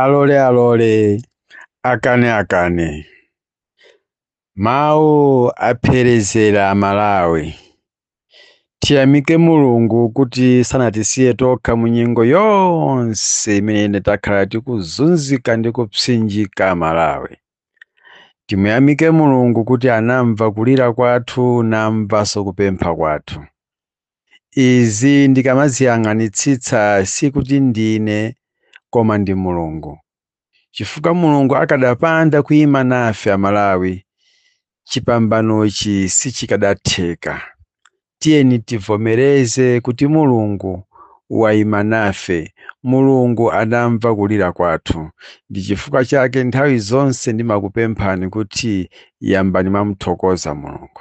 alole alole akane akane mawu apherezera amalawi tiyamike mulungu kuti sanatisiye tokha mu nyengo yonse imene takhala tikuzunzika ndi kupsinjika amalawi timuyamike mulungu kuti anamva kulira kwathu namvanso kupempha kwathu Izi ndikamaziyang'anitsitsa sikuti ndine koma ndi Mulungu chifukwa Mulungu akadapanda kuima nafe a Malawi chipambanochi sichikadatheka. Tiyeni tivomereze kuti Mulungu waima nafe, Mulungu adamva kulira kwathu ndi chifukwa chake nthawi zonse ndimakupemphani kuti yambani mwamuthokoza Mulungu.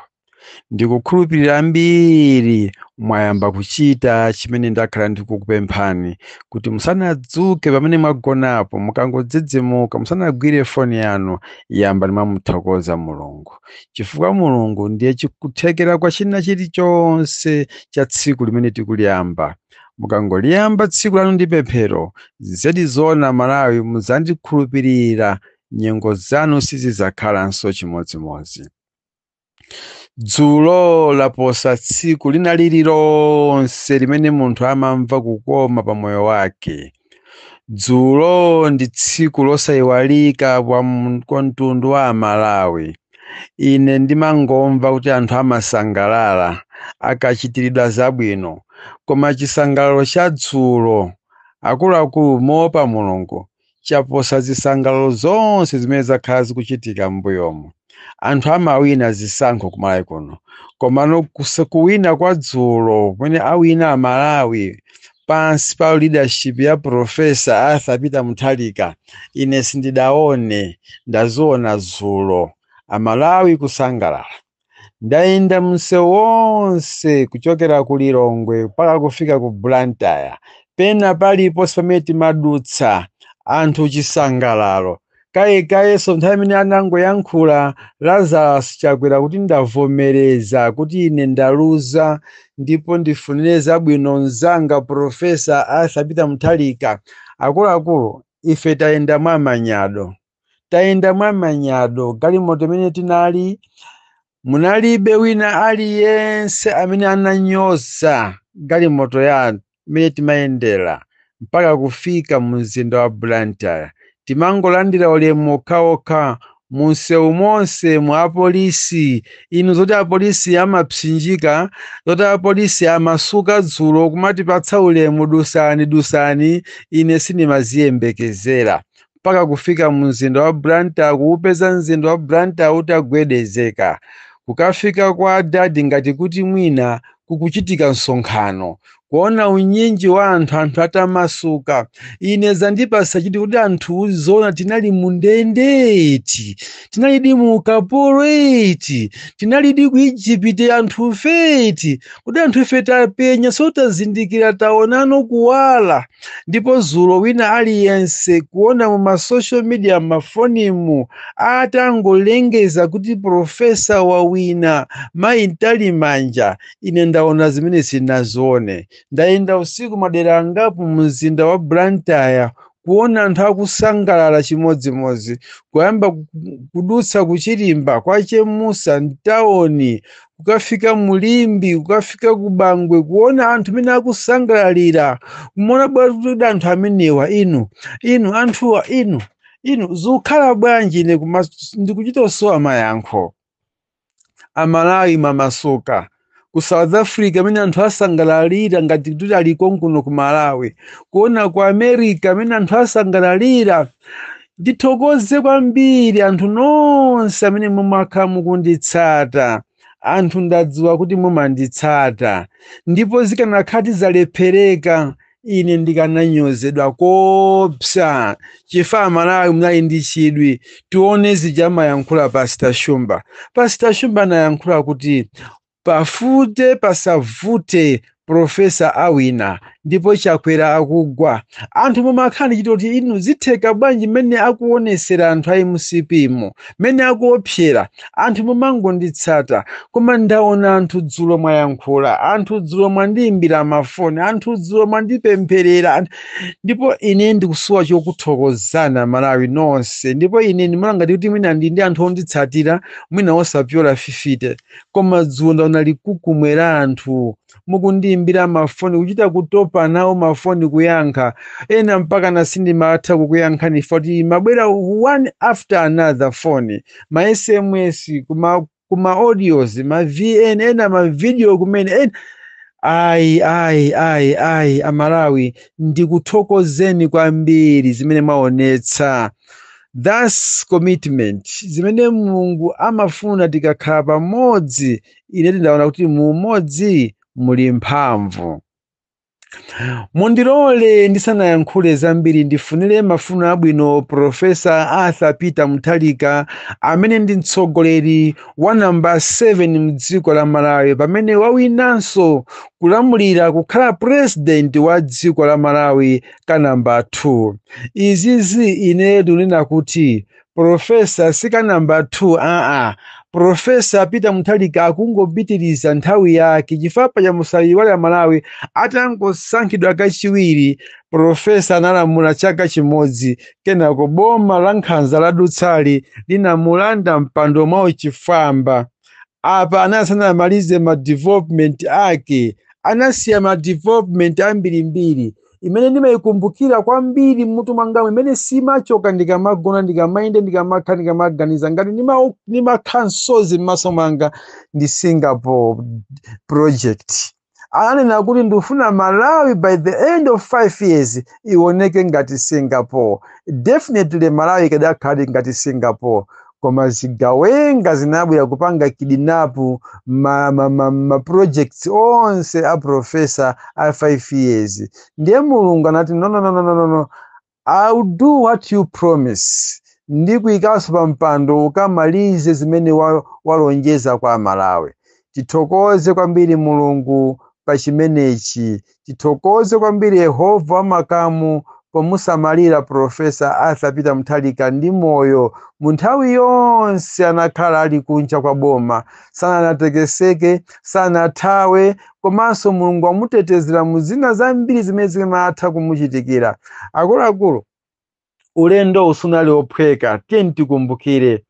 ndikukhulupirira ambiri mwayamba kuchita chimene ndakhala ndikukupemphani kuti musanadzuke pamene mwagonapo mukangodzidzimuka musanagwire foni yanu yambani mwamuthokoza mulungu chifukwa mulungu ndiye chikuthekera kwa china chilichonse cha tsiku limene tikuliyamba mukangoliyamba tsiku lanu ndi pemphero zedi zoona malawi muzandikhulupirira nyengo zanu sizizakhalanso chimodzimodzi dzulo laposa tsiku lina lililonse limene munthu amamva kukoma pa moyo wake dzulo ndi tsiku losayiwalika kwa mtundu wa amalawi ine ndimangomva kuti anthu amasangalala akachitiridwa zabwino koma chisangalalo cha dzulo akuluakulu moopa mulungu chaposa zisangalalo zonse zimene zakhala zikuchitika m'mbuyomu anthu amawina zisankho kumalawi kuno komano kuwina kwa dzulo kumene awina amalawi pansi pa leadership ya profesa arthur peter mutharika ine sindidaone ndaziona dzulo amalawi kusangalala ndayenda msewu wonse kuchokera ku lilongwe mpaka kufika ku blantyre pena paliponse pamene timadutsa anthu chisangalalo kayekayenso nthawi imene anangoyankhula lazarus chakwera kuti ndavomereza kuti ine ndaluza ndipo ndifunire zabwino mzanga profesa arthur peter mutharika akuluakulu ife tayenda mwamanyado tayenda mwa manyado galimoto imene tinali munalibe wina aliyense amene ananyoza galimoto yathu imene timayendera mpaka kufika mu mzinda wa blantyre timangolandira ulemu okhaokha munsewu monsemu apolisi inu zoti apolisi amapsinjika zoti apolisi amasuka dzulo kumatipatsa ulemu dusani dusani ine sindimaziyembekezera mpaka kufika mu mzinda wa Blantyre kuupeza mzinda wa Blantyre utagwedezeka kukafika kwa adadi ngati kuti mwina kukuchitika msonkhano kuona unyinji wa anthu anthu atamasuka ine zandipasa chithu kuti anthu zoona tinali mu ndende eti tinalidi mu ukapolo eti tinalidi ku ijipiti anthufe eti kuti anthu ife tapenyaso tazindikira taona no kuwala ndipo dzulo wina aliyense kuona mu ma social media mafonimu atangolengeza kuti profesa wawina mayi mtalimanja ine ndaona zimene sinazione ndayenda usiku madera angapo mu mzinda wa blantyre kuona anthu akusangalala chimodzimodzi kuyamba ku- kudutsa ku chirimba kwa chemusa mtawoni kukafika mu limbe kukafika ku bangwe kuona anthu mene akusangalalira kumaona bwanji kuti anthu amenewa inu inu anthuwa inu inu zikukhala bwanji ine ndikuchita kusowa mayankho amalawi mwamasuka ku south africa mmene anthu asangalalira ngati kuti ali konkuno ku malawi kuona ku america mmene anthu asangalalira Ndithokoze kwambiri anthu nonse amene mumakhala mukunditsata. Anthu ndadziwa kuti mumanditsata, ndipo zikanakhati zalephereka ine ndikananyozedwa koopsa. Chifukwa Amalawi munali ndi chidwi, tione zija amayankhula Pastor Shumba. Pastor Shumba anayankhula kuti Pavute pasavute profesa awina ndipo chakwera akugwa anthu mumakhala ndi chithu choti inu zitheka bwanji mmene akuopsezera anthu a mcp mu mmene akuopsera anthu mumangonditsata koma ndaona anthu dzulo mwayankhula anthu dzulo mwandiimbira mafoni anthu dzulo mwandipempherera ndipo ine ndikusowa chokuthokozani amalawi nonse ndipo ine ndimaona ngati kuti mwina ndi ndi anthu onditsatira mwina osapyola fifite koma dzulo ndaona chikhamu la anthu mukundiimbira mafoni kuchita kutopa nawo mafoni kuyankha ena mpakana sindimatha kukuyankhani poti amabwera one after another phone ma sms kuma kuma audios ma vn ena ma video kumene ena ayi ayi ayi ayi amalawi ndikuthokozeni kwambiri zimene mwaonetsa that's commitment zimene mulungu amafuna tikakhala pamodzi ine ndaona kuti mu umodzi muli mphamvu mundilole ndisanayankhule zambiri ndifunire mafuno abwino profesa arthur peter mutharika amene ndi mtsogoleri wa namba 7 mdziko la malawi pamene wawinanso kulamulira kukhala purezidenti wa dziko la malawi ka namba 2 izizi ine ndinena kuti profesa si ka namba 2 aa profesa peter mutharika akungopitiriza nthawi yake chifukwa paja musayiwale amalawi atangosankhidwa kachiwiri profesa analamula chaka chimodzi kenako boma la nkhanza lotsutsali linamulanda mpando mwa uchifwamba apa asanamalize ma development ake anasiya ma development ambirimbiri imene ndimayikumbukira kwambiri m'mutu mwangamu imene simachoka ndikamagona ndikamayenda ndikamakhala ndikamaganiza ngati ndima- ndimakhala msozi m'maso mwanga ndi singapore project ananena kuti ndifuna malawi by the end of five years iwoneke ngati singapore definitely malawi ikadakhala ngati singapore koma zigawenga zinabwera kupanga kidinapu ma, ma, ma, ma projects onse a profesa a 5 years ndiye mulungu anati no, no, no, no, no, no, no. I'll do what you promise ndikuyikanso pa mpando ukamalize zimene wa- walonjeza kwa amalawi tithokoze kwambiri mulungu pa chimenechi Tithokoze kwambiri Yehova wa makamu pomusamalira Profesa Arthur Peter Mutharika ndi moyo mu nthawi yonse anakhala ali kunja kwa boma, sanatekeseke, sanathawe komanso Mulungu wamutetezera mu zina zambiri zimene zimatha kumuchitikira. Akuluakulu, ulendo uwu sunali ophweka tiyeni tikumbukire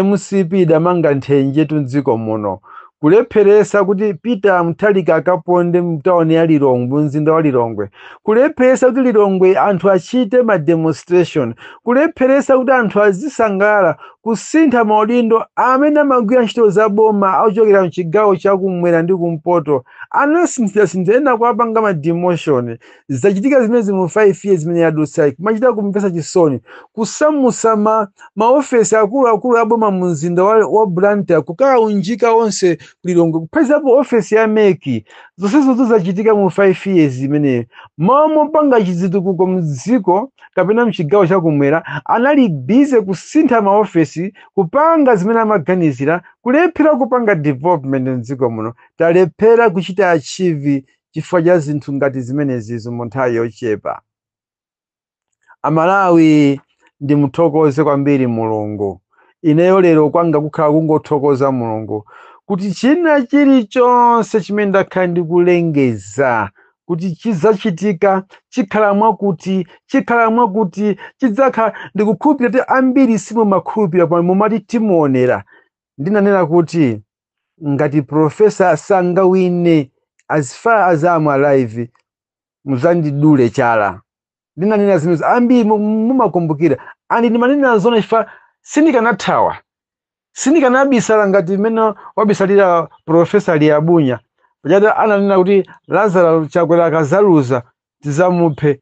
mcp idamanga mthenjetu mdziko muno kulepheresa kuti peter mutharika asaponde mtawuni ya lilongwe mzinda wa lilongwe kulepheresa kuti lilongwe anthu achite ma demonstration kulepheresa kuti anthu azisangalala kusintha maudindo amene amagwira ntchito za boma ochokera mchigawo chakumwera ndi kumpoto anasinthasintha ena kuwapanga ma demotion zachitika zimenezi mu 5 years imene yadutsayi kumachita kumvetsa chisoni kusamutsa ma maofesi akuluakulu a boma mu mzinda wa, wa blantyre kukaunjika onse ku lilongwe kuphatikizapo ofesi ya mec zonsezozo zachitika mu 5 years imeneyo m'malo mopanga chizitukuko mdziko kapena mchigawo chakumwera anali busy kusintha maofesi kupanga zimene amaganizira kulephera kupanga development mdziko muno talephera kuchita achieve chifukwa cha zinthu ngati zimenezizo mu nthawi yochepa amalawi ndimuthokoze kwambiri mulungu ineyo lero kwanga kukhala kungothokoza mulungu kuti china chilichonse chimene ndakhala ndikulengeza kuti chidzachitika chikhala mwakuti chikhala mwakuti chidzakhala ndikukhulupirira kuti ambiri simumakhulupirira pomwe mumati timuonera ndinanena kuti ngati professor sangawine as far as am alive muzandidule chala ndinanena zimene ambiri mu- mu- mumakumbukira andi ndimanena zona chifukwa sindikanathawa sindikanabisala ngati mmene wabisalira profesa liyabunya paja ananena kuti lazaro chakwera akazaluza tizamuphe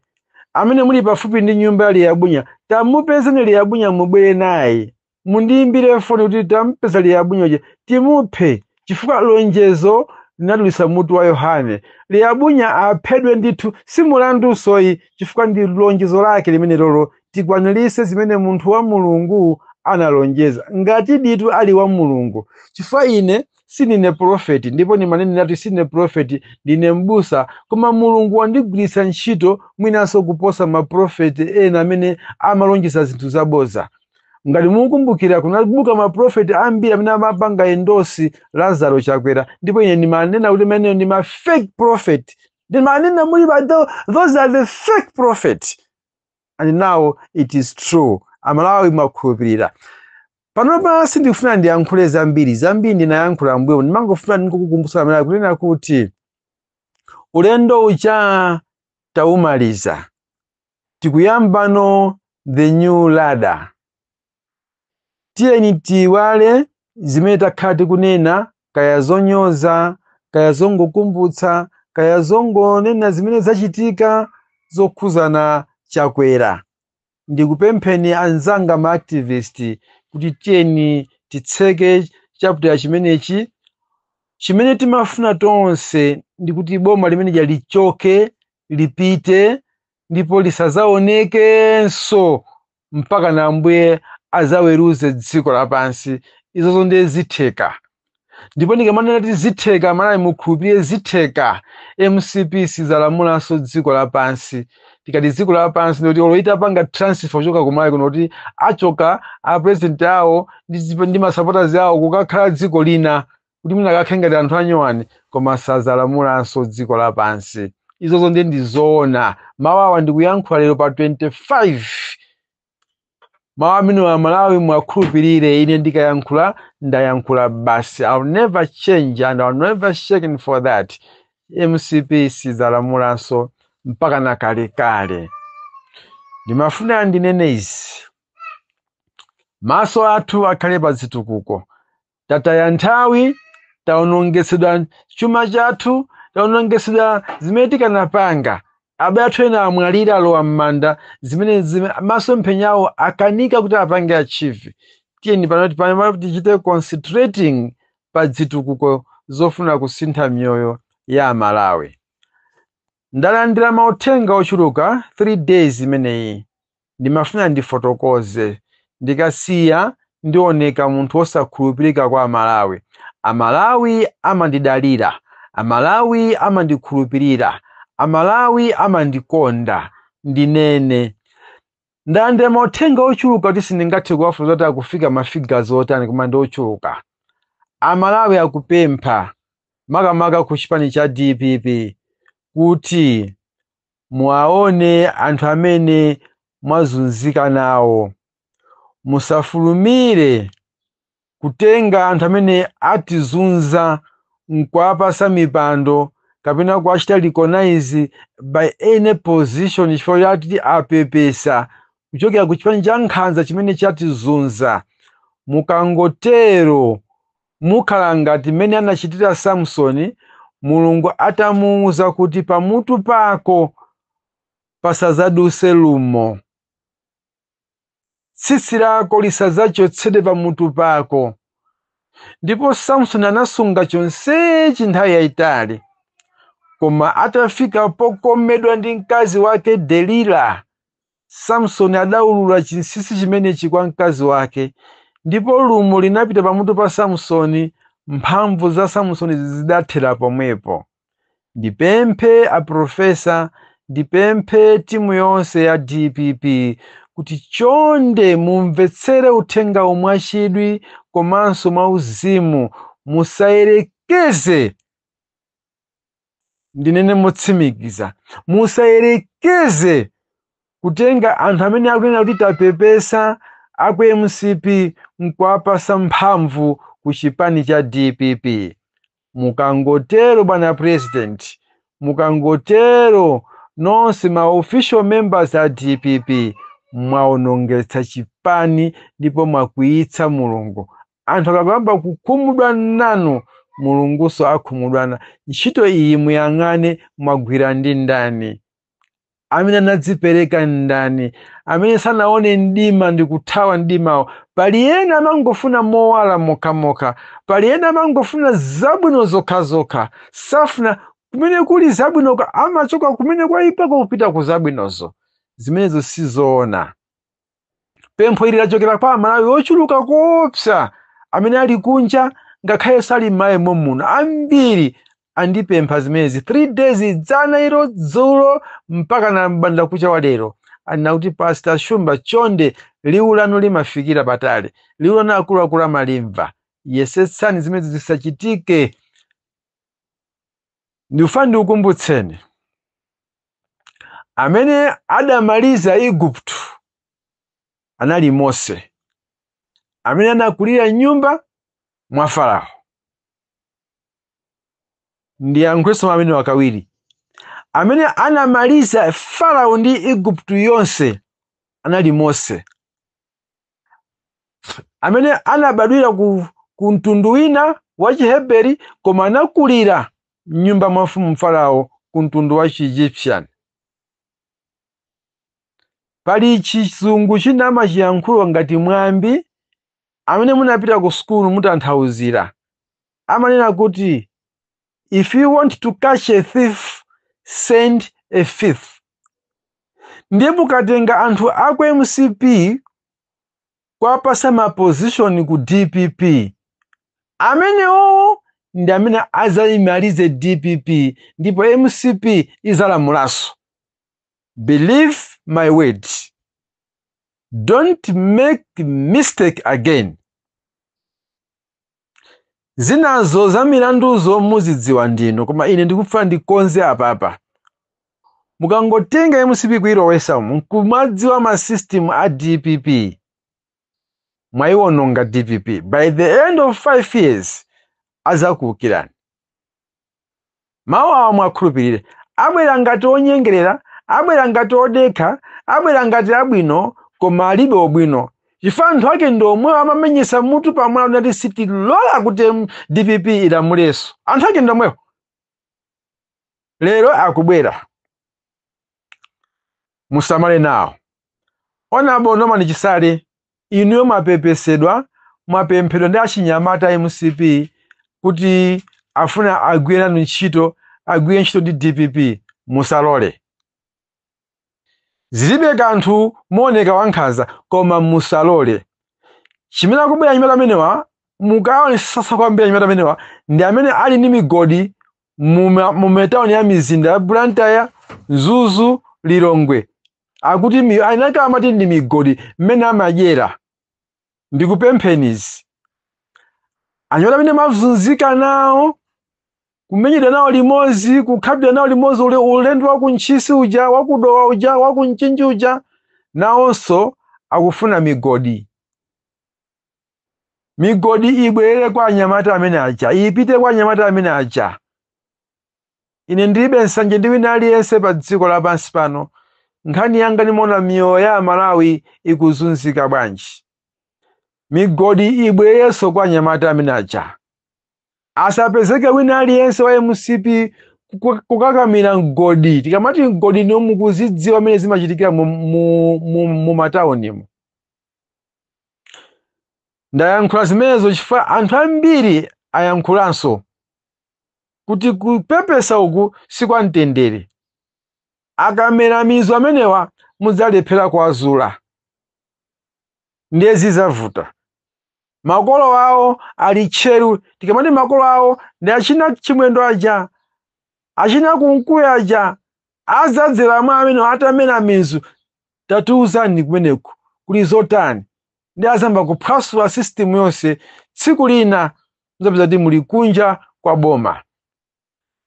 amene muli pafupi ndi nyumba ya liyabunya tamupezeni liyabunya mubwere naye mundiimbire foni kuti tampeza liyabunya timuphe chifukwa lonjezo linadulisa mutu wa yohane liyabunya aphedwe ndithu si mulandu soyi chifukwa ndi lonjezo lake limene lolo tikwanilise zimene munthu wa mulungu analonjeza ngati ditu ali wa mulungu chifukwa ine sinine profeti ndipo ndimanenatu sinine profeti ndine mbusa koma mulungu wandigwiritsa ntchito mwinanso kuposa maprofeti ena amene amalonjeza zinthu zaboza ngati mukukumbukira kunabuka maprofeti ambiri amene amapanga endosi lazaro chakwera ndipo ine ndimanena kuti amenewo ndi ma fake prophet ndimanena muli ba tho- those are the fake prophet and now it is true amalawi mwakhulupirira panopa sindikufuna ndiyankhule zambiri zambiri ndinayankhula mbuyo ndimangofuna ndikukukumbutsani mmene nkunena kuti ulendo uja taumaliza tikuyambano the new ladder tiyeni tiiwale zimene takhala tikunena kaya zonyoza kaya zongokumbutsa kaya zongonena zimene zachitika zokhuzana chakwera ndikupempheni anzanga ma activist kuti tiyeni titseke chapter chimenechi chimene timafuna tonse ndikuti boma limene lichoke lipite ndipo lisazaonekenso mpaka na ambuye azaweruze dziko lapansi izozo ndiye zitheka ndipo ndikamanena kuti zitheka malawi mukhulupirire zitheka mcp sizalamulanso dziko lapansi tikati dziko lapansi ndikuti olo itapanga transfer kuchoka kumalawi kuno kuti achoka apresident awo ndi zipa- ndi masupporters awo kukakhala dziko lina kuti mwina akakhale ngati anthu anyuwani koma sazalamulanso dziko lapansi izozo ndiye ndizoona mawu awa ndikuyankhula lero pa 25 mawu amene amalawi mwakhulupirire ine ndikayankhula ndayankhula basi I'll never change and I'll never shaken for that mcp sizalamulanso mpaka na kalekale ndimafuna ndinene izi maso athu akhale pa zitukuko tataya nthawi taonongetsedwa chuma chathu taonongetsedwa zimene tikanapanga abale athu ena amwalira alowa m'manda zimene zime- masomphenya awo akanika kuti apange achieve tiyeni pano tichite concentrating pa zitukuko zofuna kusintha miyoyo ya amalawi Ndalandila mauthenga ochuluka 3 days imeneyi ndimafuna ndifotokoze ndikasiya ndioneka munthu osakhulupilika kwa amalawi. Amalawi amandidalila, amalawi amandikhulupilila, amalawi amandikonda ndinene Ndalandira mauthenga ochuluka kuti sindingathe kuwafotokoza kuti akufika ma figures otani koma ndi ochuluka. Amalawi akupempha makamaka ku chipani cha dpp kuti muwaone anthu amene mwazunzika nawo. Musafulumire Kutenga anthu amene atizunza n'kuwapatsa mipando kapena kuwachita recognize by any position chifukwa choti apepesa kuchokera ku chipani cha nkhanza chimene chatizunza, mukangotero mukhala ngati mmene anachitira Samsoni, Mulungu atamuuza kuti pamutu pako pasadzadutse lumo. Tsitsi lako lisadzachotsedwe pamutu pako. Ndipo Samsoni anasunga chonsechi nthawi yayitali. Koma atafika pokomedwa ndi mkazi wake Delila, Samsoni adaulula chinsinsi chimenechi kwa mkazi wake, ndipo lumo linapita pamutu pa Samsoni, mphamvu za Samsoni zidathera pomwepo. ndipemphe a profesa ndipemphe timu yonse ya dpp kuti chonde mumvetsere uthenga uwu mwachidwi komanso mwauzimu musayerekeze ndinene motsimikiza musayerekeze kutenga anthu amene akunena kuti tapepesa aku mcp nkuwapasa mphamvu ku chipani cha dpp Mukangotero bwana president, mukangotero nonse ma official members a dpp mwaonongetsa chipani ndipo mwakwiyitsa Mulungu. Anthu akayamba kukhumudwa nanu, Mulungunso akhumudwa nanu. Ntchito iyi muyang'ane mwagwira ndi ndani? amene anadzipereka ndani amene sanaone mdima ndi kuthawa mdimawo pali ena amangofuna mowala mokhamokha pali ena amangofuna zabwino zokhazokha safuna kumene kuli zabwinoko amachoka kumene kwayipako kupita ku zabwinozo zimenezo sizoona Pempho ili lachokera kwa Amalawi ochuluka koopsa amene ali kunja ngakhale ali m'Malawi mommuno. Ambiri andipempha zimenezi 3 days dzana ilo dzulo mpaka na mbanda kucha wa lero. Anena kuti Pastor Shumba chonde liwu lanu limafikira patali. Liwu lanu akuluakulu amalimva. Yesetsani zimenezi zisachitike ndikufuna ndikukumbutseni amene adamaliza igupto anali mose amene anakulira mnyumba mwa farao ndiyankhulenso mwina kawiri amene anamaliza farao ndi igupto yonse anali mose amene anabadwira ku mtundu wina wa chiheberi koma anakulira mnyumba mwa mfumu farao ku mtundu wa chiegyptian pali chizungu china amachiyankhula ngati mwambi amene munapita ku sukulu mutanthauzira amanena kuti if you want to catch a thief send a thief ndiye mukatenga anthu aku mcp kuwapatsa mapozishoni ku dpp amenewo ndi amene azayimalize dpp ndipo mcp izalamulanso believe my word don't make mistake again zinazo za milanduzo muzidziwa ndinu koma ine ndikufuna ndikonze apapa mukangotenga mcp kuilowesa umu nkumadziwa ma system a dpp mwayiwononga dpp by the end of five years azakuukirani mawu awa muwakhulupirire abwera ngati onyengerera abwera ngati odekha abwera ngati abwino koma alibe ubwino chifukwa anthu ake ndi omwewo amamenyesa mutu pamwala kunali sitilola kuti dpp ilamuleso anthu ake ndi omwewo lero akubwera musamale nawo honourable norman chisale inuyo mwapepesedwa mwapemphedwa ndi achinyamata a mcp kuti afuna agwire nanu ntchito agwire ntchito ndi dpp musalole zilibe kanthu muoneka wankhanza koma musalole chimene akubwera anyamata amenewa mukaonesesa kwambiri anyamata amenewa ndi amene ali ndi migodi mu matauni ya mizinda ya Blantyre, Mzuzu, Lilongwe akuti mi- anaka amati ndi migodi mmene amadyera ndikupempheni izi anyamata amene mumazunzika nawo kumenyedwa nawo limodzi kukhapidwa nawo limodzi ule- ulendo wa ku Ntchisi uja wa ku Dowa uja wa ku Mchinji uja nawonso akufuna migodi migodi ibwerere kwa anyamata amene aja ipite kwa anyamata amene aja ine ndilibe nsanje ndi wina aliyense pa dziko lapansi pano nkhani yanga ndimaona miyoyo ya amalawi ikuzunzika bwanji migodi ibwererenso kwa anyamata amene aja asapezeke wina aliyense wa mcp kuka- kukakamira mgodi tikamati mgodi ndiwo mukuzidziwa mmene zimachitikira mu, mu, mu, mu mataunimu ndayankhula zimenezo chifukwa anthu ambiri ayankhulanso kuti kupepesa uku si kwa mtendere akamera mizu amenewa mudzalephera kuwazula ndiye zizavuta makolo awo ali tcheru tikamati makolo awo ndi achina chimwendo aja achina kunkuyu aja azadzera mwa amenewa atamera mizu tatiuzani kumeneku kuli zotani ndi azayamba kuphwasula system yonse tsiku lina muzapeza kuti muli kunja kwa boma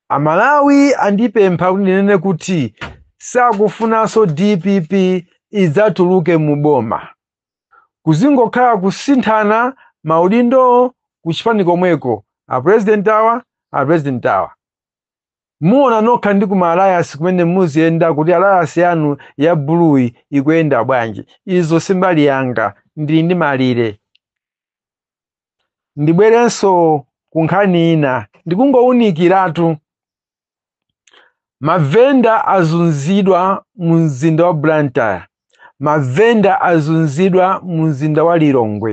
amalawi andipempha kuti ndinene kuti sakufunanso dpp idzatuluke mu boma kuzingokhala kusinthana maudindowo ku chipani komweko apurezidenti awa apurezidenti awa Muona nokha ndi ku ma alliance kumene muziyenda kuti alliance yanu ya buluuyi ikuyenda bwanji. Izo si mbali yanga. Ndili ndi malire. Ndibwerenso ku nkhani ina, ndikungowunikiratu. Mavenda azunzidwa mu mzinda wa Blantyre. mavenda azunzidwa mu mzinda wa lilongwe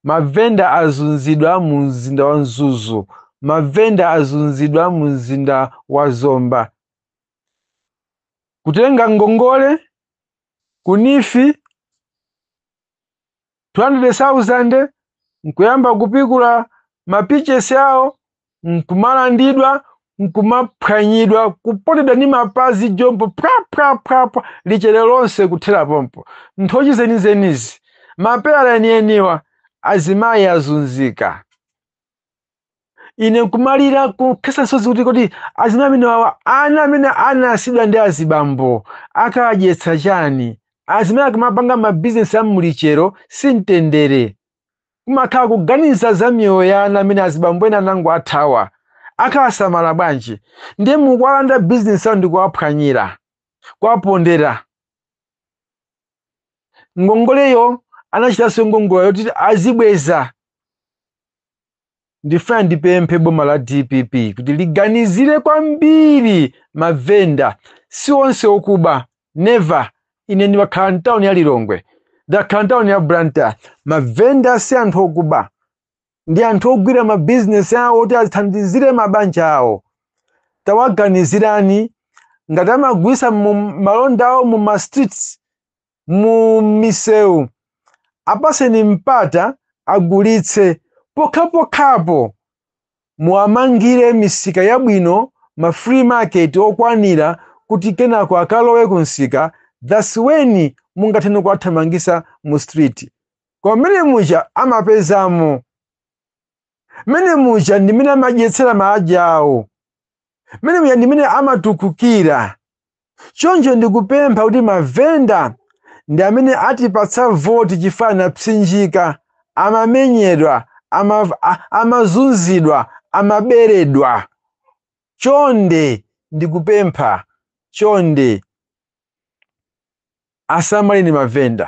mavenda azunzidwa mu mzinda wa mzuzu mavenda azunzidwa mu mzinda wa zomba kutenga ngongole kunifi 200,000 nkuyamba kupikula mapichesi awo nkumalandidwa nkumaphwanyidwa kupondedwa ndi mapazi jombo phwaphwaphwapwa lichero lonse kuthera pompo nthochi zenizenizi mapeyala enieniwa azimayi azunzika ine nkumalira kukhesa misozi kuti kodi azimai amene wawa ana amene anasiyidwa ndi azibambo akadyetsa chani azimai akamapanga mabizinesi a mmulichero si mtendere kumakhala kuganiza za miyoyo ya ana amene azibambo ena anango athawa akawasamala bwanji ndiye mukuwalanda bizinesi awo ndikuwaphwanyira kuwapondera ngongoleyo anachitanso ngongole yoti azibweza ndifuna ndipemphe boma la dpp kuti liganizire kwambiri mavenda si onse okuba never ine ndimakhala mtawuni ya lilongwe ndakhala mtawuni ya blantyre mavenda si anthu okuba ndi anthu ogwira mabizinesi awo kuti athandizire mabanja awo tawaganizirani ngati amagulisa malonda awo mu ma streets mu misewu apaseni mpata agulitse pokhapokhapo muwamangire misika yabwino ma free market okwanira kuti kenako akalowe ku msika thats when mungathene kuwathamangisa mu street koma mmene muja amapezamo mmene muja ndimene amadyetsera maanja awo mmene muja ndimene amatukukira choncho ndikupempha kuti mavenda ndi amene atipatsa voti chifukwa anapsinjika amamenyedwa ama, a- amazunzidwa amaberedwa chonde ndikupempha chonde asamaleni mavenda